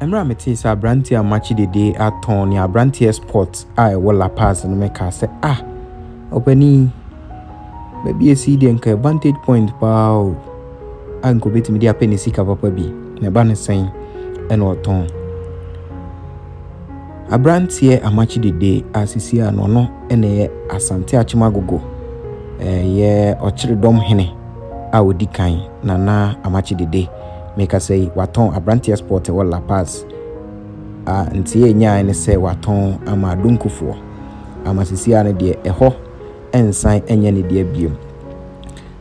Mmerɛ a metee sɛ aberanteɛ a makye dede atɔn ne aberanteɛ sport a ɛwɔ La Paz no mekaa sɛ ah ɔpanin baabi a ɛsi deɛ nka advantage point paa o a nka ɔbɛtumi de apɛ ne sika papa bi na ɛba no sɛn ɛna ɔtɔn aberanteɛ amakye dede a sisi a no ɔno ɛna ɛyɛ asante akyem agogo ɛyɛ ɔkyere dɔm hene a odi kan, Nana Amakye Dede, merekasa yi, watɔn Abranteɛs Port ɛwɔ La Paz, a nteɛ a ɛnyaeɛ ne sɛ watɔn ama Adonkofoɔ, ama sisi ara no deɛ ɛhɔ nsan nyɛ ne dea biom.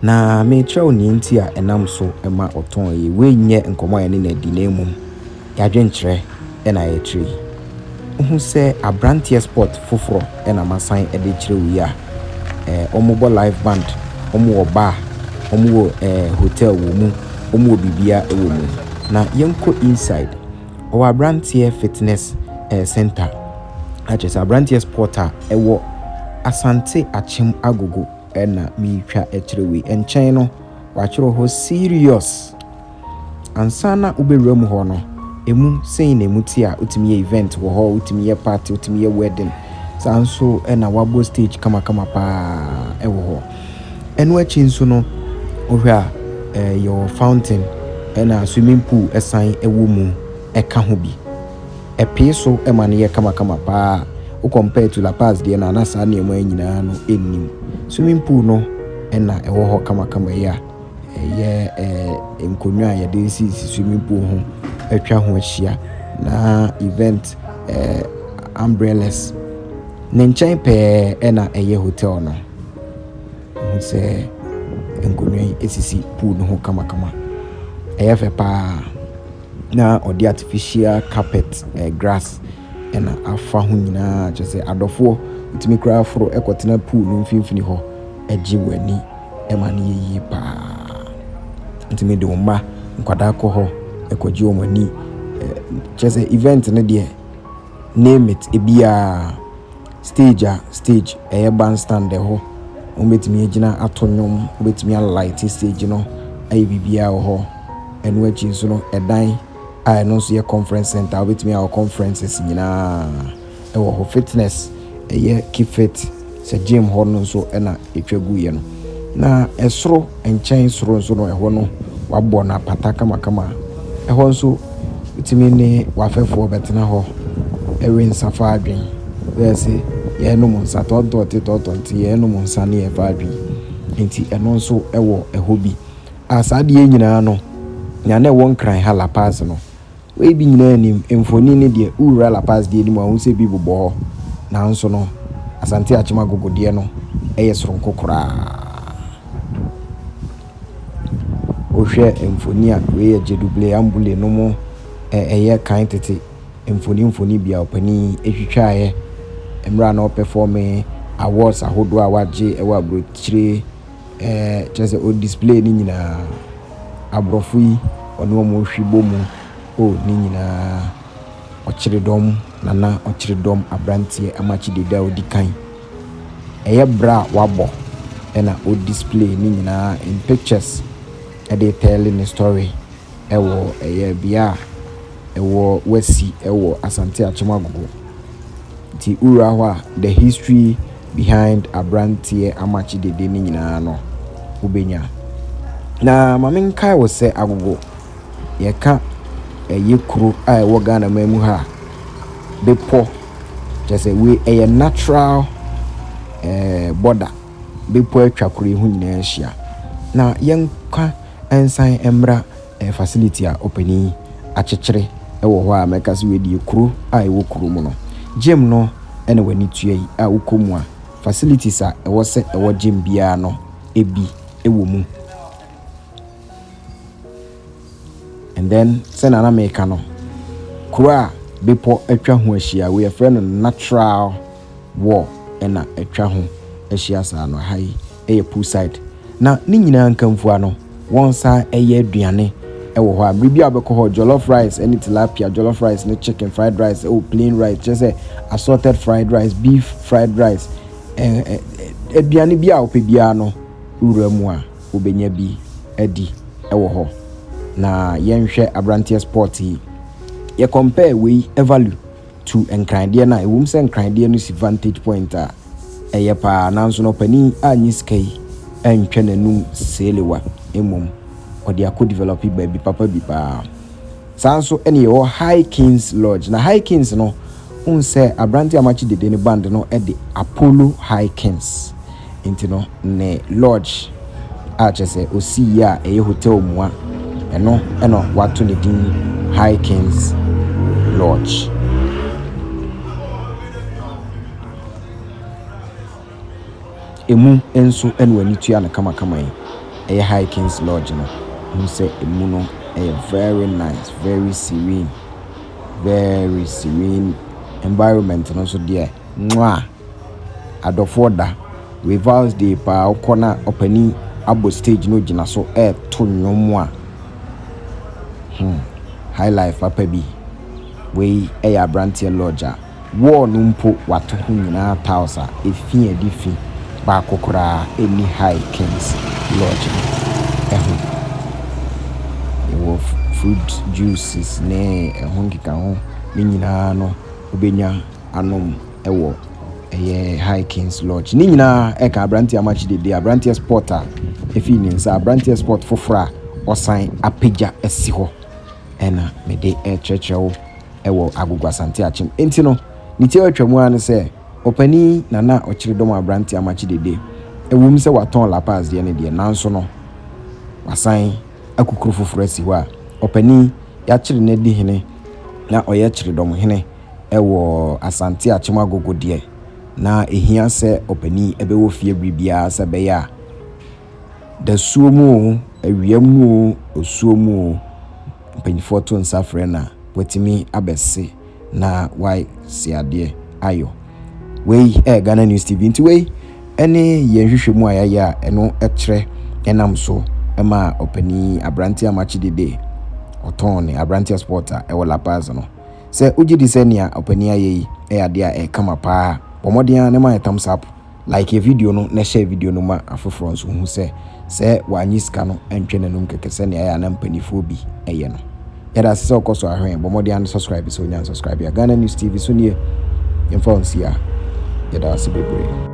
Na merekyerɛ wo nea nti a ɛnam so ma ɔtɔn yi, wei nyɛ nkɔmmɔ a yɛne no adi na mmom, Y'adwenkyerɛ na yɛkyerɛ yi. Wohu sɛ abranteɛ sport foforɔ na masan de kyerɛ wo yi a? Eh, wɔn bɔ live band, wɔn wɔ bar, wɔn wɔ eh, hotel wɔ mu, wɔn wɔ bibia wɔ mu. Na yɛnkɔ inside, ɔwɔ abranteɛ fitness eh, center, akyerɛ sɛ abranteɛ sport a ɛwɔ Asante Akyem Agogo na meretwa kyerɛ wei. Nkyɛn no, wɔatwerɛ hɔ serious. Ansa na wobɛwura mu hɔ no, ɛmu sei na ɛmu te a, wotumi yɛ event wɔ hɔ, wotumi yɛ party, wotumi yɛ wedding, saa nso na wɔabɔ stage kamakama paa wɔ hɔ. Ɛno akyi nso no, wohwɛ a eh, yɛwɔ fountain ɛna swimming pool ɛsan ɛwɔ mu ɛka ho bi. Ɛpee so ɛma no yɛ kamakama paa. Wo compare to La Paz deɛ no a, na saa nneɛma yi nyinaa no ɛnnim. Swimming pool no ɛna ɛwɔ hɔ kamakama yi a. Ɛyɛ ɛɛ nkonnwa a yɛde sisi swimming pool ho atwa ho ahyia, na event ɛɛ umbrellas. Ne nkyɛn pɛɛ na ɛyɛ hotel no. Wohu sɛ nkonnwa yi sisi pool no ho kamakama. Ɛyɛ fɛ pa ara, na wɔde artificial carpet, ɛɛ grass na afa ho nyinaa. Kyerɛ sɛ, adɔfoɔ tumi koraa foro kɔtena pool no mfimfini hɔ gye wɔn ani. ɛma no yɛ yie pa ara. Nti mede wo mma nkwadaa kɔ hɔ kɔgye wɔn ani. Kyerɛ sɛ event no deɛ name it ebiara stage a stage ɛyɛ bandstand ɛhɔ wɔbɛtumi agyina ato nnwom wɔbɛtumi a light stage no ayɛ biribiara wɔ hɔ. Ɛno akyi nso no ɛdan a ɛno nso yɛ conference centre a wɔbɛtumi ayɛ wɔn conferences nyinaa. Ɛwɔ hɔ fitness ɛyɛ keep fit sɛ gym hɔ no nso na ɛtwa gu yɛ no na ɛsoro nkyɛn soro nso no ɛhɔ no wabɔ no apata kamakama ɛhɔ nso wotumi ne wafɛfoɔ bɛtena hɔ ɛwe nsa fa adwen bɛyɛ se yɛ nom nsa tɔɔtɔɔte tɔɔtɔɔte yɛ nom nsa ne yɛ fa adwen nti ɛno nso ɛwɔ ɛhɔ bi a saa deɛ nyinaa no nea na ɛwɔ nkran ha la pass no Wei bi nyinaa nnim mfoni ne deɛ Wura La Paz deɛ anim a ɔhu sɛ bi bobɔ hɔ. Nanso no, Asante Akyem Agogo deɛ no yɛ soronko koraa. Wohwɛ mfoni a, wei yɛ Djedouble Amboule nom ɛyɛ kan tete mfoni mfoni bi a ɔpanin twitwaeɛ mmerɛ a na ɔpɛfɔɔme awards ahodoɔ a wagye wɔ aburokyire Ɛɛ kyerɛ sɛ o display ne nyinaa. Aborɔfo yi ɔne wɔn rehwe bɔ mu. O ne nyinaa. Ɔkyeredɔm nana ɔkyeredɔm abranteɛ ama kyidida odi kan. Ɛyɛ bra a wabɔ ɛna o display ne nyinaa in pictures ɛde retɛle ne story. Ɛwɔ ɛyɛ bea a ɛwɔ wasi ɛwɔ Asante Akyem Agogo nti wowura hɔ a the history behind abranteɛ amakye dede no nyinaa no wobɛnya. Na ma me nkae wo sɛ Agogo yɛka ɛyɛ kuro a ɛwɔ Ghana man mu ha a bepɔ kyɛ sɛ wei ɛyɛ natural ɛɛ border bepɔ atwa kuro yi ho nyinaa ahyia na yɛnka nsan mmra ɛɛ facility a ɔpanin akyekyere wɔ hɔ a mɛka sɛ wei deɛ kuro a ɛwɔ kuro mu no gym no na w'ani tua yi a wokɔ mu a facilities a ɛwɔ sɛ ɛwɔ gym biara no ebi wɔ mu and then sɛ na na meka no kuro a bepɔ atwa ho ahyia wei yɛfrɛ no natural wall ɛna atwa ho ahyia saa no ha yi yɛ poolside, na ne nyinaa nkamfua no, wɔsan yɛ aduane wɔ hɔ a, bere biara a wobɛkɔ hɔ, jollof rice ne tilapia, jollof rice ne chicken, fried rice, oh, plain rice, kyerɛ sɛ assorted fried rice, beef fried rice, eh, eh, eh, aduane biara a wopɛ biara no, wura mu a, wobɛnya bi adi wɔ hɔ. Na yɛnhwɛ aberanteɛ sport yi, yɛ compare wei value. tu Nkranndeɛ no a, ɛwom sɛ Nkranndeɛ no si vantage point a ɛyɛ paa, nanso no ɔpanin annye sika yi antwa n'anum seelewa, mmom ɔde akɔ develope baabi papa bi paa. Saa nso ɛne yɛwɔ High Kings Lodge, na High Kings no, wohu sɛ aberante a makye dede no band no de Apollo High Kings Nti no ne lodge a kyerɛ sɛ osii yɛ a ɛyɛ hotel mua, ɛno na wɔato ne din High Kings Lodge. Emu nso na w'ani tua no kamakama yi. Ɛyɛ High Kings Lodge no, hu sɛ emu no ɛyɛ very nice, very serene, very serene environment no nso deɛ, mwaa! Adɔfoɔ da, revals day paa wokɔ na ɔpanin abɔ stage na ɔgyina so reto nnwom a hmm high life papa bi. Wei yɛ aberanteɛ lodge a wall no mpo wɔato ho nyinaa tiles a ɛfi adi fi baako koraa ɛnni high kings lodge no ho. Yɛwɔ fruit juices ne ɛho nkekaho ne nyinaa no wobɛnya anom. wɔ ɛyɛ Hikings Lodge. Ne nyinaa ɛka aberanteɛ amakye dede, aberanteɛ sport a ɛfii ne nsa, aberanteɛ sport foforɔ a ɔsan apagya asi hɔ ɛna mede ɛkyerɛkyerɛ wo ɛwɔ Agogo Asante Akyem. Enti no, ne tiawa atwa mu ara ne sɛ, ɔpani Nana Ɔkyeredɔm aberanteɛ amakye dede, ɛwom sɛ watɔn La Paz deɛ no deɛ, nanso no wasan akukuro foforɔ asi hɔ a ɔpani yɛakyere no adi hene na ɔyɛ kyeredɔm hene. Wɔ Asante Akyem Agogo deɛ, na ɛhia sɛ ɔpanin bɛwɔ fie bere biara sɛ ɛbɛyɛ a, dasuo mu o, awia mu o, osuo mu o, mpanimfoɔ to nsa frɛ no a, watumi abɛse na wasi adeɛ ayɔ. Wei yɛ Ghana News TV nti wei ne yɛn hwehwɛ mu a yɛayɛ a ɛno kyerɛ ɛnam so ma ɔpanin aberanteɛ a makye dede ɔtɔn ne aberanteɛ sport a ɛwɔ La Paz no. Sɛ wogye di sɛ nea ɔpanyin ayɛ yi yɛ ade a ɛyɛ kama paa a, bɔ mmɔden ara na ma yɛn thumbs up, like video no na hyɛ video no ma afoforɔ nso hu sɛ sɛ wanyi sika no ntwe n'anum kɛkɛ sɛnea ɛyɛ a na mpanimfoɔ bi yɛ no. Yɛda ase sɛ wokɔ so ahwɛ yɛn, bɔ mmɔden ara na subscribe sɛ wonya nsubscribe a. Ghana News TV so nie, yɛmfa wo nsi a. Yɛda wo ase bebree.